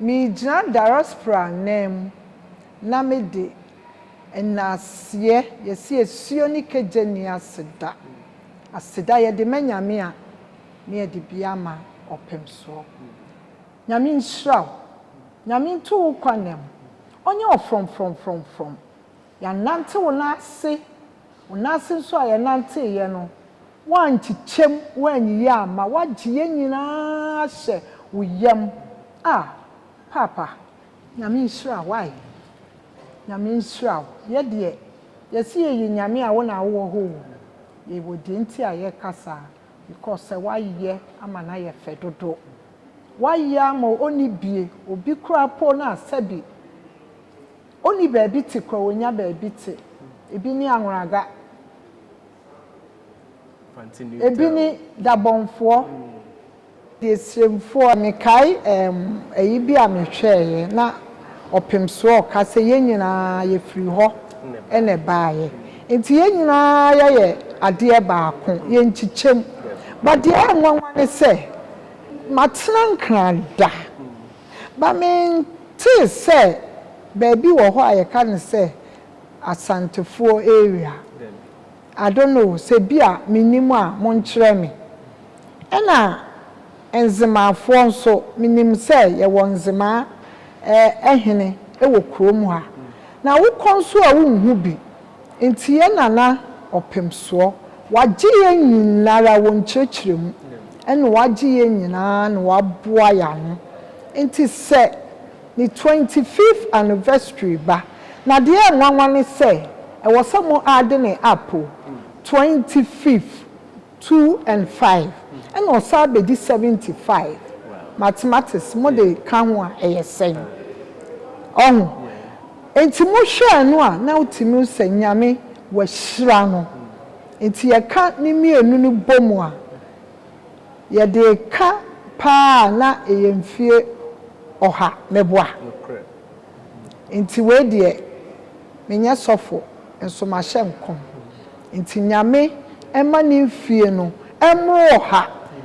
Megyina diaspora nan mu na mede nnaseɛ yɛse asuo ne kagya nni aseda aseda yɛde ma Nyame a ne yɛde bi ama ɔpem soɔ Nyame nhyira wo Nyame nto wo kwanam ɔnyɛ wo frɔmfrɔmfrɔmfrɔm Yɛannante wo nan ase, wo nan ase nso a yɛnanteeɛ no, woankyekyɛm, woanyiyi amma, woagye yɛn nyinaa ahyɛ wo yam. Ah, Paapa, Nyame nhyira wo ai, Nyame nhyira wo. Yɛ deɛ, yɛse yɛyɛ Nyame a, wo na wowɔ hɔ o. Yɛwɔ deɛ nti a yɛreka saa, because sɛ woayɛ ama no ayɛ fɛ dodo. Woayɛ ama ɔnni bie, obi koraa mpo no a, sɛbi. Onni baabi te koraa onya baabi te. Ebi ne anworaga. Ebi ne dabɔnfoɔ. Deɛ siremfoɔ. Mekae ɛɛm ayi bi a me hwɛɛeɛ na ɔpemsoɔ ɔka sɛ yɛn nyinaa yɛ firi hɔ na ɛbaeɛ nti yɛn nyinaa yɛyɛ adeɛ baako yɛ nkyekyɛm but deɛ ɛyɛ nwanwa ne sɛ matena nkran da. Ba mentee sɛ baabi wɔ hɔ a yɛka no sɛ Asantefoɔ area I don't know sɛ bi a mennim a monkyerɛ me. Ɛna Nzemaafoɔ nso menim sɛ yɛwɔ Nzemaa hene wɔ kurom ha. Na wokɔ nso a wonhu bi. Nti yɛ Nana ɔpem soɔ. Wagye yɛn nyinara wɔ nkyerɛkyerɛ mu ɛna wagye yɛn nyinaa na waboa yɛn ano nti sɛ ne twenty fifth anniversary ba na deɛ ɛnwanwa ne sɛ ɛwɔ sɛ mo add ne app o twenty fifth Two and five ɛna ɔsan bedi seventy five mathematics mo de ka ho a ɛyɛ sɛn ɔho nti mo hwɛɛ no a na wotumi hu sɛ nyame wahyira no nti yɛ ka ne mmienu no bɔ mu a yɛ de ka paa a na ɛyɛ mfie ɔha mɛboa nti wei deɛ me nyɛ sɔfo nso mahyɛ nkɔm Nti Nyame mma ne mfie no mmoro ɔha,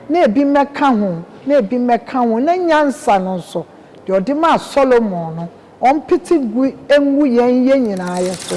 na ebi mmɛka ho, na ebi mmɛka ho, na nyansa no nso, deɛ ɔde maa Solomon no, ɔmpete gu ngu yɛn yɛ nyinaa yɛ so.